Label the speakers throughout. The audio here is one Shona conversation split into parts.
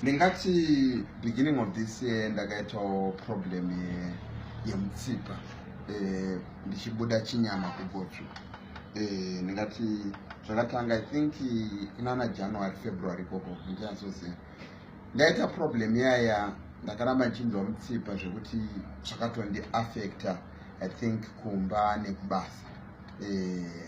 Speaker 1: ndingati beginning of this year ndakaitawo problem yemutsipa eh, ndichibuda chinyama kugotsvu eh, ndingati zvakatanga i think kunana january february ikoko ndichazozia ndaita problem yaya ndakaramba ndichinzwa mutsipa zvekuti zvakatondiaffecta i think kumba nekubasa eh,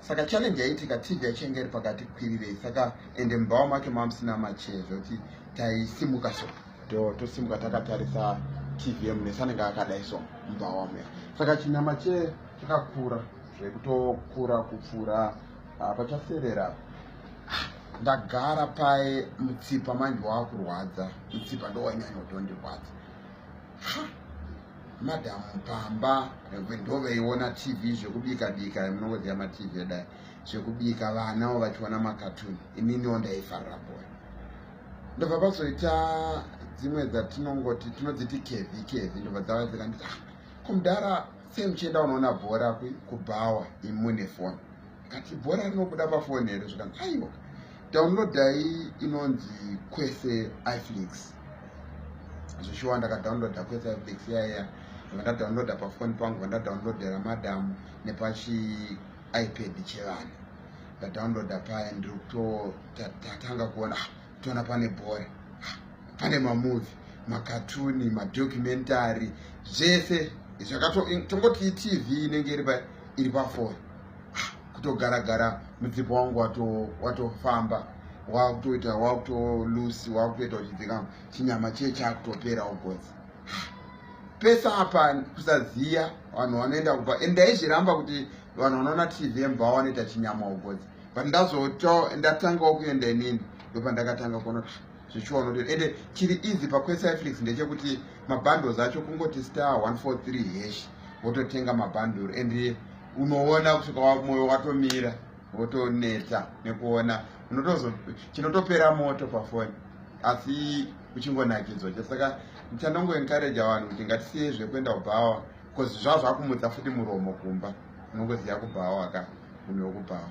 Speaker 1: saka challenge yaitika tv yachenge iri pakati kwirirei saka ende mumbawa make mamusina machee zvekuti taisimuka so do tosimuka takatarisa tv yemunesi anenge akadai so mumbawa muya saka chinyama chee chakakura zvekutokura kupfuura ah, pachaserera ndagara paye mutsipa manje wakurwadza mutsipa ndowanyanya kutondirwadza madam pamba ndoveiona tv zvekubika bika munongoziva matv edai zvekubika vanawo vachiona makatuni ininiwo ndaifarira boy ndobva pazoita dzimwe dzatinongoti tinodziti kevi kevi ndobva dzava dzikanditi ah, kumudhara sei muchienda unoona bhora kubhawa imune foni akati bhora rinobuda pafoni here zvikanzi aiwa downloadai inonzi kwese iflix zvishuwa ndakadownloada kwese iflix yaiya vandadownloada pafoni pangu vandadownloadera madam nepachi ipad chevanhu ndadownloada paya ndiri kutotatanga kuona ah, toona pane bhora pane mamovhi makatuni madocumentary zvese zvakatongoti tv inenge iri pa iri pafoni kutogara gara mudzipo wangu watofamba wakutoita wakutolusi wakutoita uchidzika chinyama chiye chakutopera ugozi pese apa kusaziya vanhu vanoenda kuba and ndaizviramba kuti vanhu vanoona tv mva vanoita chinyama ugozi but ndazoto ndatangawo kuenda inini ndopandakatanga kuona kuti zvichiona kuti ende chiri easy paquecyflix ndechekuti mabundles acho kungoti star 143 hesh wototenga mabundle and unoona kusvika wamoyo watomira wotoneta nekuona unotozo chinotopera moto pafoni asi uchingonakidzwa chasaka ndichanongoencouraja vanhu kuti ngatisiye zvekuenda kubhawa Because zvaa zvakumutsa futi muromo kumba unongoziva kubhawa waka munhu wekubhawa.